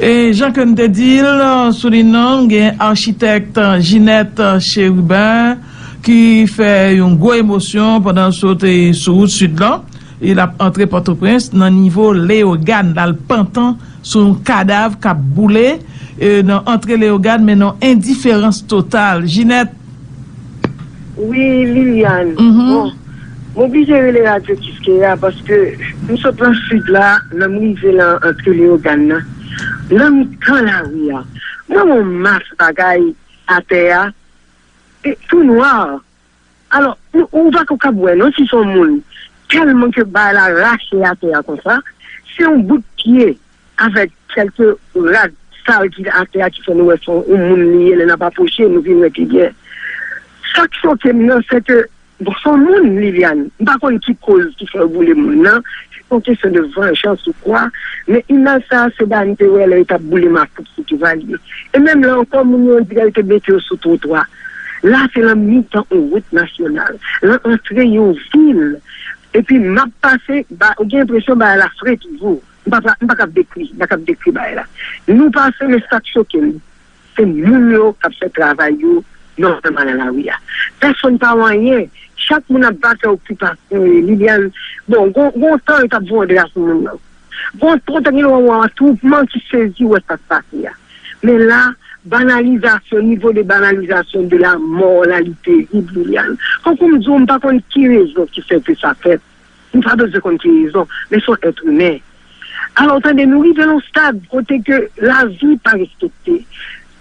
E jan ke n te di l sou lin nan, nou gen Architect Ginette Chérubin ki fè yon gwo emosyon pandan l sote sou wout Sid lan e l ap antre Pòtoprens nan nivo Leyogàn. L al pantan sou yon kadav k ap boule nan antre Leyogàn men nan yon endiferans total. Ginette. Wi Liliane, bon, M oblije rele radyo Kiskeya paske m sot lan sid la, lè m rive lan antre Leyogàn nan, lan mitan lari a, m wè yon mas bagay atè a, e tou nwa. Alò, ou pa ko kab wè non si s on moun, tèlman ke bagay la rache atè a konsa. Se yon bout pye Avèk kèlke rad sal ki atè a ki fè nou wè son yon moun li ye lè nap apwoche nou vin wè pi byen. Sak chokem nan se ke son moun Liliane m pa konn ki koz ki fè yo boule moun nan se yon kesyon de vanjans ou kwa men imaj sa se bagay m te wè lè yo tap boule makout sou Duvalier e menm la ankò moun yo on dirè yo te mete yo sou twotwa la se lan mitan on wout nasyonal lan antre yon vil epi map pase ba ou gen enpresyon bagay la fre toujou. M pa kab dekri, m pa kab dekri bagay la. Nou pase men sak choke m, se moun yo kap fè travay yo nòmalman nan lari a. Pèsonn pa wè anyen, chak moun ap vakè okipe pasew e li al bon gon tan yo tap voye dra sou moun nan. Gon tan gen lè wap wè atwoupman ki sezi wè sak pase a. Men la banalizasyon, nivo de banalizasyon de la mò la li terib Liliane. Tankou m diw m pa konn ki rezon ki fè ke sa fèt. Nou pa bezwen konn ki rezon, men son èt imen. Alò w tande nou rive yon stad kote ke lavi pa respekte,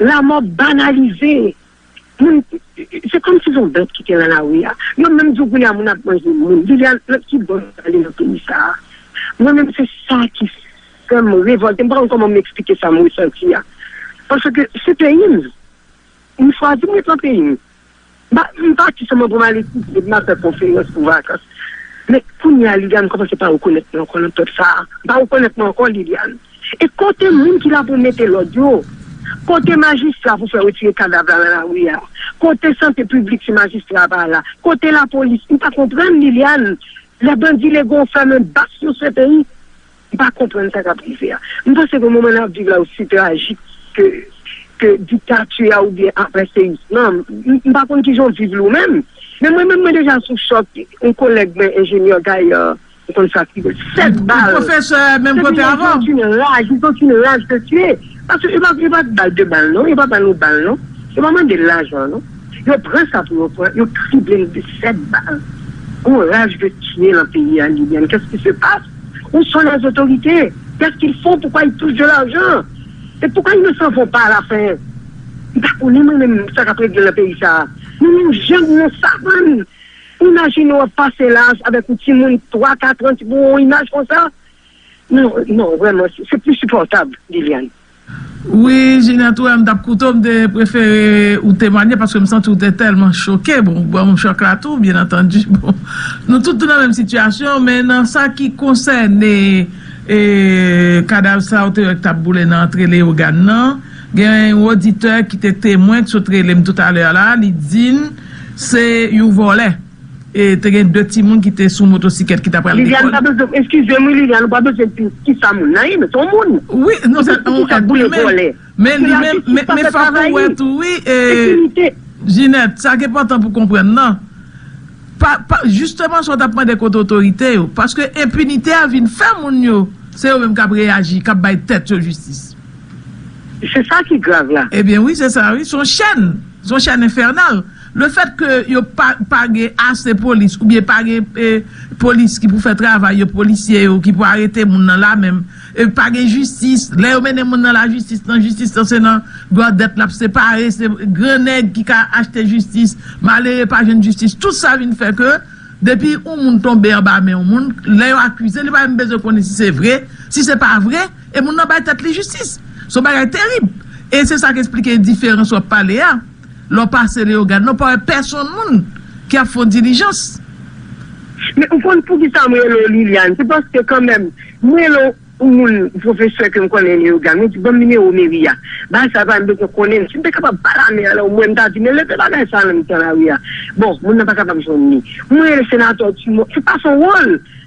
lamò banalize. Moun, se kòm si son bèt ki te lan lari a. Yo menm di w kounye a moun ap manje moun. Viviane, nan ki bon nou ale nan peyi sa a? Mwen menm se sa ki fè m revòlte. M pa konn kòman m eksplike sa m resanti a. Paske se peyi m. M chwazi m ret nan peyi m. M pati sèlman pou m al etidye, pou m al fè konferans pou vakans. Men, kounye a, Liliane, m kòmanse pa rekonèt mwen ankò nan pèp sa a. M pa rekonèt mwen ankò, Liliane. E kote moun ki la pou mete lòd yo? Kote majistra pou fè retire kadav la nan lari a? Kote sante piblik si majistra pa la? Kote lapolis? M pa konprann, Liliane. Lè bandi lego fèmen bak sou se peyi. M pa konprann sa kap rive a. M panse ke moman nap viv la osi trajik ke diktati a oubyen apreseyis lan. M pa konn kijan w viv li w menm. Men mwen menm mwen deja sou chòk. Yon kolèg mwen enjenyè Gaillard, m konn sa ki. 7 bal. Yon pwofesè menm kote avè w. Epi yo gen yon raj, yo gen yon ti raj de tue. Paske yo pa bal 2 bal non. Yo pa ban nou bal non. Yo pa mande lajan non. Yo pran sa pou yo pran yo triblel de 7 bal on raj de tye lan peyi a Liliane qu'est-ce qui se passe? Où sont les autorités? Qu'est-ce qu'ils font? Pourquoi ils touchent de l'argent? Et pourquoi ils ne s'en vont pas à la fin? M pa konnen mwen menm sa kap regle lan peyi sa nou menm jan nou yon savann imajine wap pase la avèk yon timoun 3 4 ans pou yon imaj konsa non non vrèman se plus supportable Liliane. Wi Jina tou em tap koute w m te prefere ou temwanye paske m santi w te tèlman choke bon ou banm chòk la tou byen antandi bon nou tout tou nan menm sitiyasyon men nan sa ki konsène kadav sa ou te wè k tap boule nan antre Leyogàn nan gen yon oditè ki te temwen k sot rele m toutalè a la li di m se yon vòlè. E te gen 2 timoun ki te sou motosikèt ki ta pral lekòl. Liliane pa bezwen, eskize m wi Liliane ou pa bezwen di ki sa moun nan ye men se yon moun. Wi, non se yon èt imen. Men la jistis pa fè travay li. Enpinite. Ginette, sa ki enpòtan pou konprann nan, jisteman sa w t ap mande kote otorite yo, paske enpinite a vin fè moun yo, se yo menm k ap reyaji, k ap bay tèt yo jistis. Se sa ki grav la. Ebyen wi se sa wi, se yon chèn, se yon chèn enfènal. Le fèt ke yo pa pa gen ase polis ou byen pa gen polis ki pou fè travay yo polisye yo ki pou arete moun nan la menm e pa gen jistis lè yo mennen moun nan la jistis nan jistis nan se nan gòdèt lap se pare se gran nèg ki ka achte jistis malere pa jwenn jistis tout sa vin fè ke depi yon moun tonbe anba men yon moun lè yo akize li pa menm bezwen konnen si se vre si se pa vre e moun nan bay tèt li jistis son bagay terib e se sak esplike diferans wap pale a. Lè w pase Leyogàn la, w pa wè pèsonn moun ki ap fè w dilijans. Men ou konn poukisa m rele w Liliane? Se paske kanmenm, m rele w yon moun, pwofesè ke m konnen Leyogàn. Mwen di, ban m nimewo meri a. Bagay sa pa, m bezwen konnen l. Si m te kapab pale a mè a la omwen, m ta di, men leve bagay sa a nan mitan lari a. Bon, moun nan pa kapab jwenn li. Mwen rele senatè Dumont. Se pa son wòl!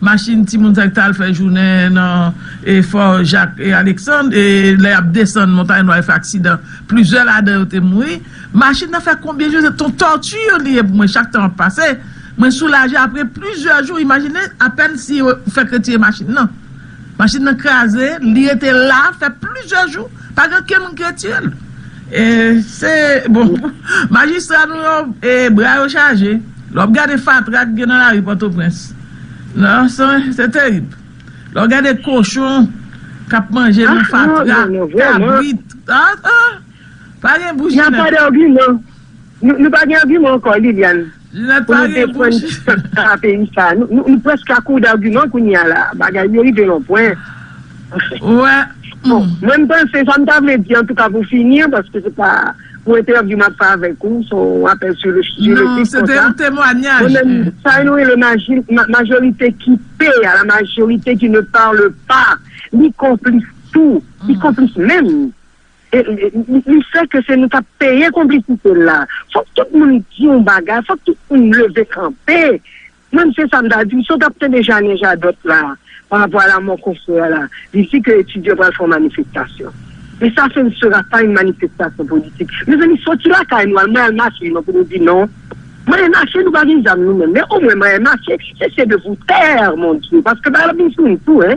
Machin timoun sa yo ki ta al fè jounen nan Fò Jak e Aleksann e lè y ap desann Montay Nwa yo fè aksidan, plizyè ladan yo te mouri. Machin nan fè konbyen jou se t on tòti li ye pou mwen chak tan ap pase. Mwen soulaje apre plizyè jou imajine apèn si yo fèk retire machin nan. Machin nan kraze, li rete la fè plizyè jou, pa gen okenn moun ki retire l. E se, bon, majistra nou yo, e bra yo chaje, lè w ap gade fatra ki gen nan lari Pòtoprens, nan, se terib. Lè w gade kochon k ap manje nan fatra, kabrit, a, a, pa gen bouch ki nèt. Nan pa de agiman. Nou pa gen agiman ankò, Liliane. Pou nou defan sa peyi sa. Nou preske a kour d'argument kounye a la. Bagay yo rive yon pwen. Bon, mwen m panse sa m ta vle di antouka pou fini an paske se pa yon entèvyou m ap fè avèk ou, se yon apèl sou le sijè konsa. Non, se te yon temwanyaj. Mwen menm, sa yo nou rele majorite ki pe a, la majorite ki ne parle pas, li konplis tou, li konplis menm. Li fè ke se nou k ap peye konplisite l la. Fòk tout moun di yon bagay, fòk tout moun leve kanpe. Mwen se sa m ta di. M sot ap tande Janè Jadòt la pa rapò a lamò konfrè a la. Li di ke etidyan pral fè yon manifestasyon. Men sa se ne sera pas une manifestation politique. Mezanmi soti lakay nou al Mayal Mache non pou nou di non. Mayal Mache nou pa gen zam nou menm. Men omwen Mayal Mache se se de pou tè mon Dye. Paske bagay la ap vin sou nou tou hein.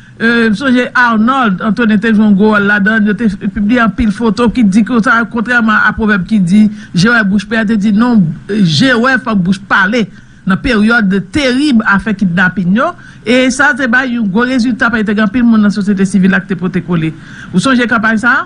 M sonje Arnold Antonin te jwe yon gwo wòl ladan l, yo te pibliye anpil foto ki di konsa, kontrèman a pwovèb ki di je wè bouch pè, te di non je wè fòk bouch pale nan peryòd terib afè kidnapin yo, e sa te bay yon gwo rezilta paske te gen anpil moun nan sosyete sivil la ki te pote kole. Ou sonje kanpay sa a?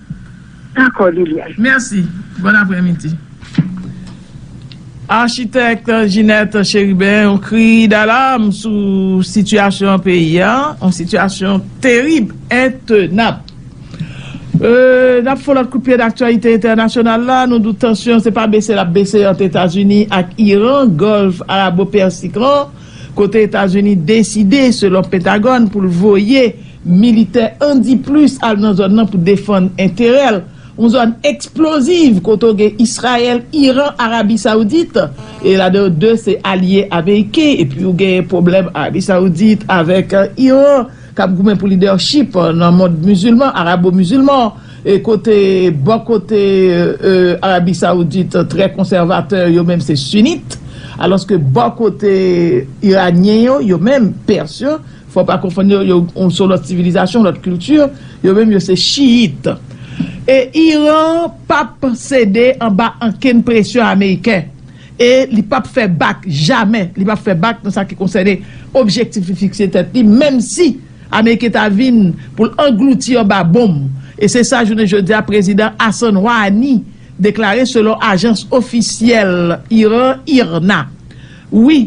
Dakò Liliane. Mèsi. Bòn aprèmidi. Architect Ginette Chérubin yon kri dalarm sou sitiyasyon peyi a, yon sitiyasyon terib, entenab. N ap fon lòt kout pye nan aktyalite entènasyonal la, nou di w tansyon se pa bese l ap bese ant Etazini ak Iran, Gòlf Arabo-Pèsik lan. kote Etazini deside, selon Pentagòn, pou l voye militè andiplis al nan zòn nan pou defann enterè l, yon zòn eksploziv kote w gen Israyèl, Iran, Arabi Saoudit, e ladan yo de se alye ameriken, epi w gen pwoblèm Arabi Saoudit avèk Iran k ap goumen pou lidèchip nan mond mizilman, arabo-mizilman. E kote bò kote Arabi Saoudit trè konsèvatè yo menm se Sunit, alòske bò kote Iranyen yo, yo menm Pers yo, fò w pa konfonn yo, yo se yon lòt sivilizasyon, yon lòt kilti, yo menm yo se Chiyit. E Iran pa p sede anba ankenn presyon Ameriken e li pa p fè bak, jamè li pa p fè bak nan sa ki konsène objektif li fikse tèt li, menmsi. Ameriken ta vin pou l anglouti anba bonm, e se sa jounen jodi a Prezidan Hassan Rouhani deklare selon ajans ofisyèl Iran IRNA. Wi,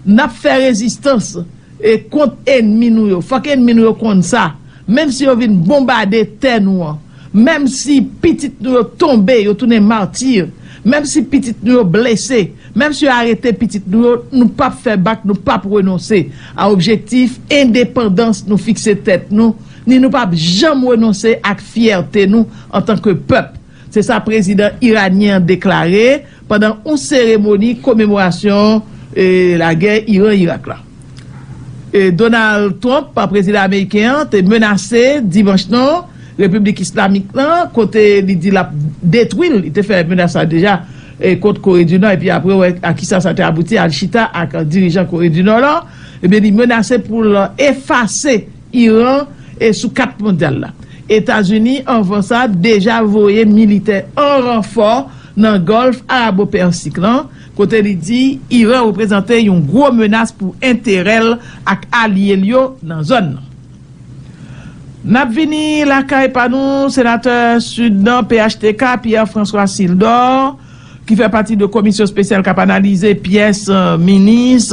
n ap fè rezistans e kont enmi nou yo. Fòk enmi nou yo konn sa. Menm si yo vin bonbade tè nou an. Menm si pitit nou yo tonbe, yo tounen martyr, menm si pitit nou yo blese, menm si yo arete pitit nou yo, nou pap fè bak, nou pap renonse a objektif endepandans nou fikse tèt nou, ni nou pap janm renonse ak fyète nou antanke pèp, se sa prezidan iranyen an deklare. pandan on seremoni komemorasyon lagè Iran-Irak la. Donald Trump, prezidan ameriken an, te menase dimanch nan Repiblik Islamik lan kote li di lap detwi l, li te fè menas sa deja kont Kore di Nò epi apre wè a kisa sa te abouti, al chita ak dirijan Kore di Nò lan, ebyen li menase pou l efase. Iran e sou kat mondyal la. Etazini anvan sa deja voye militè an ranfò nan Gòlf Arabo-Pèsik lan, kote li di Iran reprezante yon gwo menas pou enterè l ak alye l yo nan zòn nan. N ap vini lakay pa nou, Senatè Sid nan phtk, Pierre François Sildor, ki fè pati de komisyon spesyal kap analize pyès minis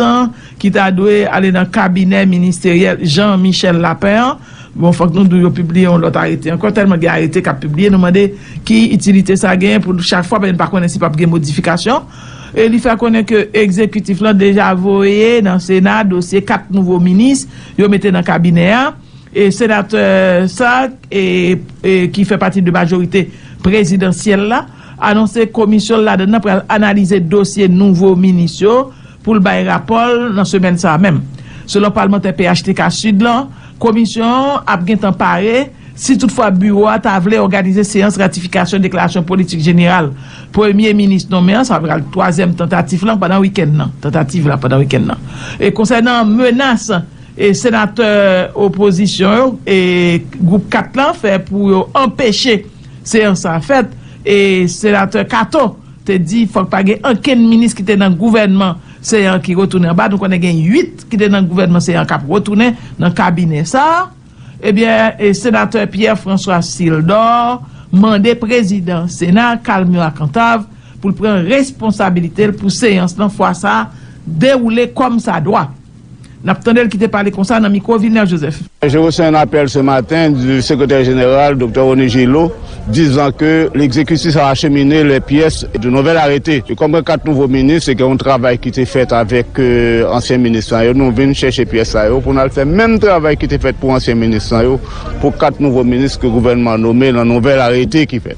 ki ta dwe ale nan kabinè ministeryèl Jean Michel Lapin an, bon fòk nou di w yo pibliye yon lòt arete ankò, tèlman gen arete kap pibliye nou mande ki itilite sa genyen pou chak fwa, paske n pa konnen si pap gen modifikasyon, e li fè konnen ke egzekitif lan deja voye nan sena dosye 4 nouvo minis yo mete nan kabinè a, e senatè sa ki fè pati de majorite prezidansyèl la. anonse komisyon l ladann nan pral analize dosye nouvo minis yo pou l bay rapò l nan semèn sa a menm. Selon palmantè phtk Sid lan, komisyon an ap gen tan pare si tout fwa biwo a ta vle òganize seyans ratifikasyon deklarasyon politik jeneral premye minis nonmen an, sa pral twazyèm tantatif lan pandan wikenn nan, tantativ la pandan wikenn nan. E konsènan menas e senatè opozisyon yo e gwoup 4 lan fè pou yo anpeche. Seyans sa fèt e Senatè Kato te di fòk pa gen ankenn minis ki te nan gouvènman Seyant ki retounen anba. Nou konnen gen 8 ki te nan gouvènman Seyant k ap retounen nan kabinè sa. Ebyen Senatè Pierre François Sildor mande Prezidan Sena Carl Murat Cantave pou l pran responsabilite l pou seyans lan fwa sa dewoule kòm sa dwa. N ap tande l ki te pale konsa nan mikwo Vilner Joseph. Je reçois un appel ce matin du secrétaire général Docteur Rony Gillot disant que l'exécutif a acheminé les pièces du nouvel arrêté. Et comme gen 4 nouveaux ministres et gen yon travay ki te fèt avèk ansyen minis lan yo, nou vin chèche pyès sa yo pou n al fè menm travay ki te fèt pou ansyen minis lan yo pou 4 nouveaux ministres ke gouvènman an nome nan nouvel arrete ki fèt.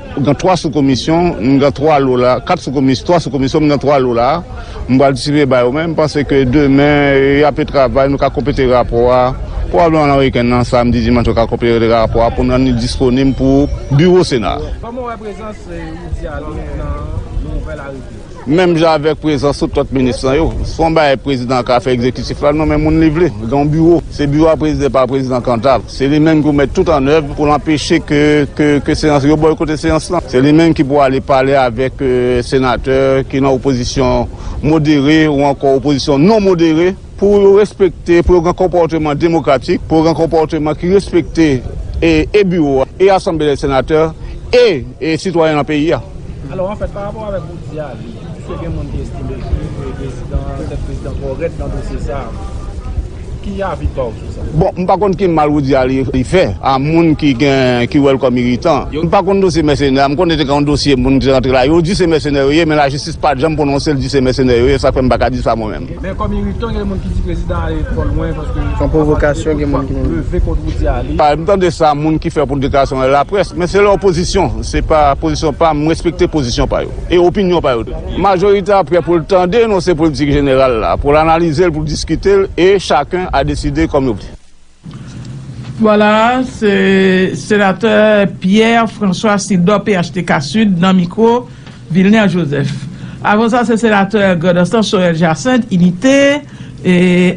M gen 3 sou komisyon, m gen 3 lo la, 4 sou komis, 3 sou komisyon, m gen 3 lo la, m pral distribiye ba yo men m panse ke demen y ape travay, nou ka konplete rapò a pwobableman nan wikenn nan, samdi, dimanch yo ka konplete rapò a pou n rann li disponib pou biwo sena a. Kòman w wè prezans Roudy Alain nan nouvèl arete a? Menm jan avèk prezans tout lòt minis lan yo, se pa yon bagay prezidan an ka fè egzekitif la nonmen moun li vle. Gen yon biwo, se biwo a prezide pa prezidan Cantave. Se li menm ki pou mèt tout an èv pou l anpeche ke seyans, yo bòykote seyans lan. Se li menm ki pou ale pale avèk senatè ki nan opozisyon modere ou ankò opozisyon non modere. Pou yo respekte, pou yo gen konpòteman demokratik, pou yo gen konpòteman ki respekte e biwo a, e asanble dè senatè, e sitwayen nan peyi a. Alò, anfèt, pa rapò avèk ou di a, piske gen moun ki estime ke prezidan, tèt prezidan twò rèd nan dosye sa a, ki avi pa ou sou sa? Bon, m pa konn ki mal ou di a li fè a moun ki gen, ki wè l kòm iritan. M pa konn dosye mèsenè a, m konnen te gen yon dosye moun ki te rantre la, yo di se mèsenè yo ye, men lajistis pa janm pwononse l di se mèsenè yo ye, sa fè m pa ka di sa mwen menm. Men kòm iritan gen moun ki di prezidan ale twò lwen paske son pwovokasyon gen moun ki di leve kont Roudy a li. M tande sa moun ki fè pou deklarasyon a la près men se lè opozisyon se pa pozisyon pa m respekte pozisyon pa yo e opinyon pa yo tou. Majorite a prè pou l tande enonse politik jeneral la pou l analize l pou l diskite l e chaken a deside kòm yo vle. Vwala, se Senatè Pierre François Sildor phtk Sud nan mikwo Vilner Joseph. Avan sa se Senatè Grand'Anse Sorel Jacinthe, Inite,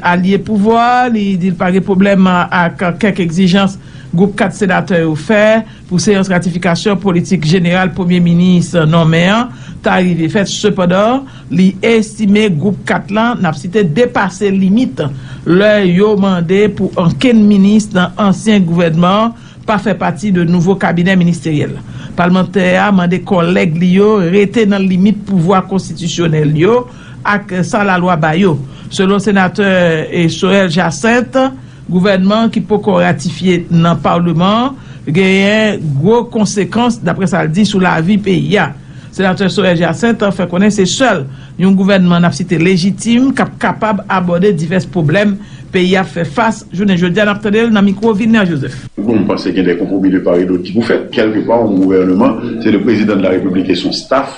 alye pouvwa, li di l pa gen pwoblèm ak kèk egzijans gwoup 4 senatè yo fè pou seyans ratifikasyon politik jeneral premye minis nonmen an ta rive fèt sepandan, Li estime Gwoup 4 lan, n ap site, depase limit lè yo mande pou ankenn minis nan ansyen gouvènman an pa fè pati de nouvo kabinè ministeryèl. Palmantè a mande kòlèg li yo rete nan limit pouvwa konstitisyonèl yo ak sa lalwa ba yo. Selon Senatè Sorel Jacinthe, Gouvènman an ki poko ratifye nan Paleman an genyen gwo konsekans, daprè sa l di, sou lavi peyi a. Senatè Sorel Jacinthe fè konnen se sèl yon gouvènman n ap site lejitim k ap kapab abòde divès pwoblèm peyi a ap fè fas jounen jodi a, n ap tande l nan mikwo Vilner Joseph. Pou m panse gen de konpwomi de par e dot ki pou fèt. Kèlke pa yon gouvèneman, se le prezidan de la repiblik e son staf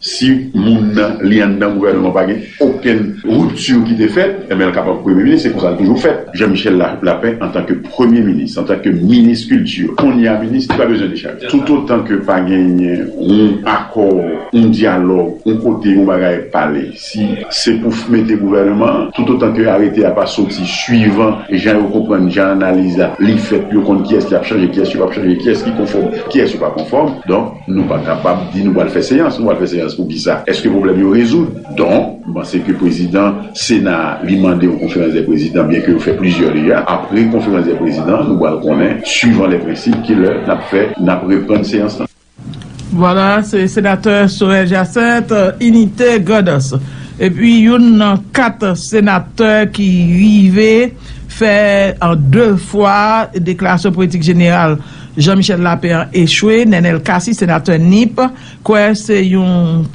Si moun nan li anndan gouvènman an pa gen okenn ripti ki te fèt, enben l kapab Premye minis. Se konsa l toujou fèt. Jan Michèl Lapin antanke Premye minis, antanke minis kilti, kounye a minis, li pa bezwen dechaje. Toutotan ke pa genyen yon akò, yon dyalòg, yon kote yon bagay pale. Si se pou mete gouvèneman an, toutotan ke arete a pa soti, swivan jan yo konprann, jan analiz la, li fèt, yo konn kiyès y ap chanje, kiyès yo p ap chanje, kiyès ki konfòm, kiyès yo pa konfòm, donk, nou pa kapab di nou pral fè seyans. Nou pral fè seyans pou kisa? Èske pwoblèm yo rezoud? Donk, m panse ke prezidan Sena a, li mande yon konferans dè prezidan, byenke yo fè plizyè deja. Apre konferans dè prezidan an, nou pral konnen, swivan lè prensip, ki lè n ap fè, n ap reprann seyans lan. Vwala se senatè Sorel Jacet, Inite, Grandans. Epi youn nan 4 senatè ki rive fè an 2 fwa deklarasyon politik jeneral Jean Michel Lapin an echwe, Nenel Cassy, senatè Nip, kwè se yon.